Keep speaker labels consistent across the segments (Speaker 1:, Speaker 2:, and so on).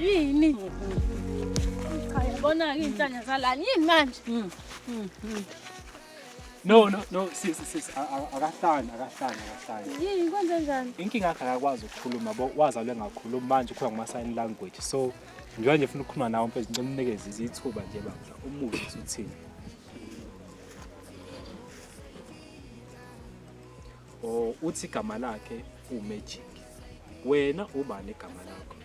Speaker 1: Yini? Cha yabona-ke iy'nhlanya zalani yini manje?
Speaker 2: No no no sisi sisi a- a- akahlani akahlani akahlani.
Speaker 1: Yini kwenze njani? Inkinga yakhe akakwazi
Speaker 2: ukukhuluma bo wazalwe ngakhuluma manje ukhuluma ngama sign language so njengoba nje ufuna ukukhuluma nawe mfethu ngicela umnikeze izithuba nje bandla umuzi ukuthi uthini. or uthi igama lakhe umagic wena ubani igama lakho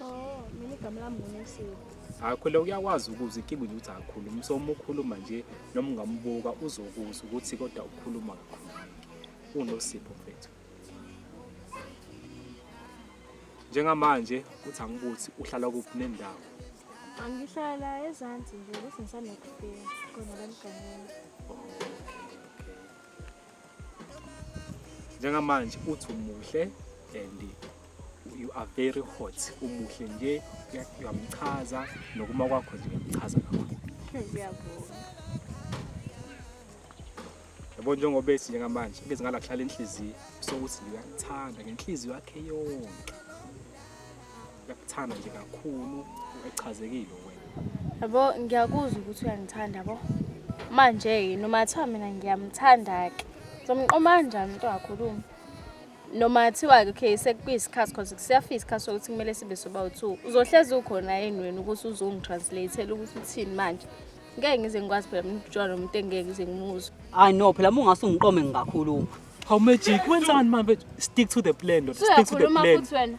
Speaker 2: oh
Speaker 1: mina igama lami ngunesile akhule
Speaker 2: uyakwazi ukuze inkinga ukuthi akhuluma so uma ukhuluma nje noma ungambuka uzokuzwa ukuthi kodwa ukhuluma kakhulu unosipho mfethu njengamanje uthi angibuthi uhlala kuphi nendawo angihlala
Speaker 1: ezansi nje bese ngisanokufika khona la mganini
Speaker 2: njengamanje uthi umuhle and you are very hot umuhle nje uyamchaza nokuma kwakho nje uyamchaza kakhulu
Speaker 1: ngiyabonga
Speaker 2: yabo njengoba ethi njengamanje ngeze ngalakuhlala enhliziyo sokuthi ngiyakuthanda ngenhliziyo yakhe yonke Uyakuthanda nje kakhulu echazekile wena. Yabo ngiyakuzwa
Speaker 1: ukuthi uyangithanda bo. Manje yini uma thiwa mina ngiyamthanda ke. Somqoma kanjani umuntu wakhuluma? Noma thiwa ke okay sekuyisikhathi cause kusiyafika isikhathi sokuthi kumele sibe soba u2. Uzohlezi ukhona yini wena ukuthi uzongitranslateela ukuthi uthini manje? Ngeke ngize ngikwazi phela mina ukujwayela umuntu engeke ngize ngimuzwe. Hayi no phela uma ungase
Speaker 3: ungiqome ngingakhuluma. How magic
Speaker 2: wenzani manje stick to the plan ndoda stick to the Uyakhuluma plan. futhi wena.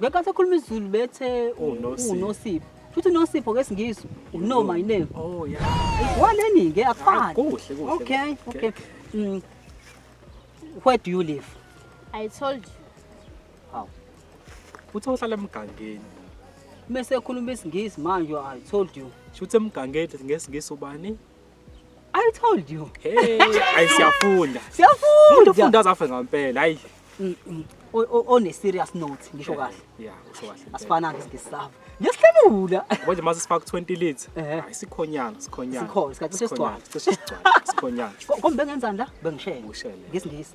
Speaker 3: Ngeke asakhuluma isiZulu bethe u- Unosipho. unosipho. Futhi unosipho ngesingisi uno my name. Oh yeah.
Speaker 2: Waleni ke
Speaker 3: akufani. Kuhle kuhle. Okay,
Speaker 2: okay.
Speaker 3: Mm. Where do you live? I told
Speaker 1: you.
Speaker 2: Uthe uhlala emgangeni. Mese
Speaker 3: ekhuluma isingisi manje I told you. Shuthi emgangeni
Speaker 2: ngesingisi ubani? I
Speaker 3: told you. Hey, ayi
Speaker 2: siyafunda. Siyafunda. Umuntu
Speaker 3: ufunda azafe ngempela.
Speaker 2: Hayi. Mm, mm.
Speaker 3: On a serious note, ngisho kahle. Yeah, usho kahle.
Speaker 2: Asifana ke ngisava.
Speaker 3: Ngiyasihlamula. Manje mase sifaka 20
Speaker 2: leads. Hayi sikhonyana, sikhonyana. Sikhona, sikhathi
Speaker 3: sesigcwala. Sikhonyana.
Speaker 2: Kombe ngenzani
Speaker 3: la? Bengishele. Ngiyisingisi.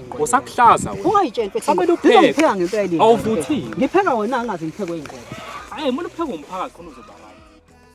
Speaker 3: Usakuhlaza wena. Ungayitsheli
Speaker 2: mfethu. Samele upheke.
Speaker 3: Ngizopheka ngempela
Speaker 2: yini? Awuvuthile. Ngipheka
Speaker 3: wena
Speaker 2: angazi ngiphekwe
Speaker 3: yini.
Speaker 2: Hayi, mina upheka
Speaker 3: umphakathi
Speaker 2: khona uzoba